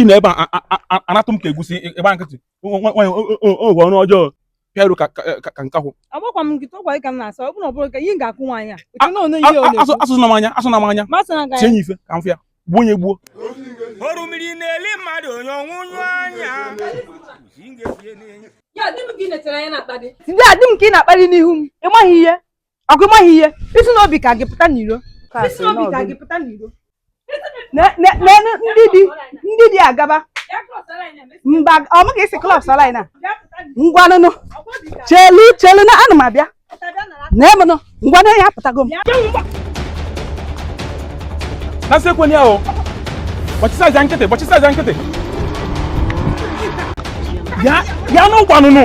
ị na ebe a anatụ m ka egusi ịgba nkịtị nwanyị ogwe ọnụ ọjọọ pịaru ka nkakwụ agbakwa m nkịta ọgwa ka m na-asa ọ bụrụ ọ bụrụ ka ihe ga-akwụ nwaanyị a asọna m anya asọna m anya tinye nye ife ka m fịagbuo onye gbuo orimiri na-eli mmadụ onye ọnwụ nyụ anya ndị a dị m ka ị na-akpali n'ihu m ị maghị ihe ọkụ ị maghị ihe i si n'obi ka gị pụta n'iro i si n'obi ka gị pụta n'iro n'elu ndị dị ndị dị agaba mba ọmụ ka isi klọb sala na ngwanụ nụ chelu chelu na ana m abịa na emenụ ngwanụ ya apụtago m Nasi ekwe ni ahụ. Gbachisa aja nkịtị, gbachisa aja nkịtị. Ya, ya n'ụgwanụnụ.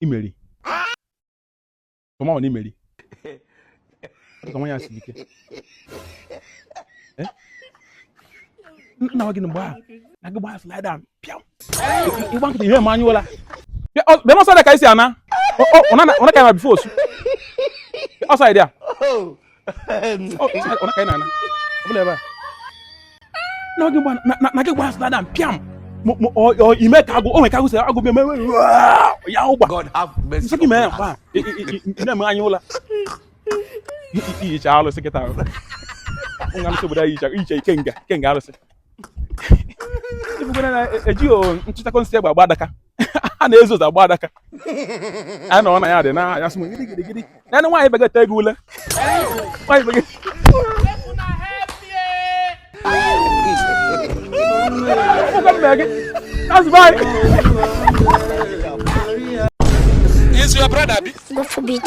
imeri tụmanụ na imeri ka nwa ya si ike eh? nna gị na mgbe ahụ na gị gbaa slide down pịam ịgba nkịta ihe ma anyị ụla bịa n'ọsọ dị ka isi ana ọ na ka ya ma bifo osu ọsọ dị ya na gị gbara stada mpịam ime ka agụ onwe ka agụ si agụ bịa mewe ya ụgba nsị gị mee ya mgba na-eme anyị ụla iyicha alụsị kịta nga nsị obodo anyị iyicha ikenga kenga alụsị ịbụgwara na ejighị nchịchakọ nsị egbe agba adaka a na-ezo ụzọ agba adaka a nọ na ya dị na-anya sị gidi gidi gidi na ndị nwaanyị begata ego ule nwaanyị begata ụgwọ mbe gị that's why is your brother bi? Go for beat.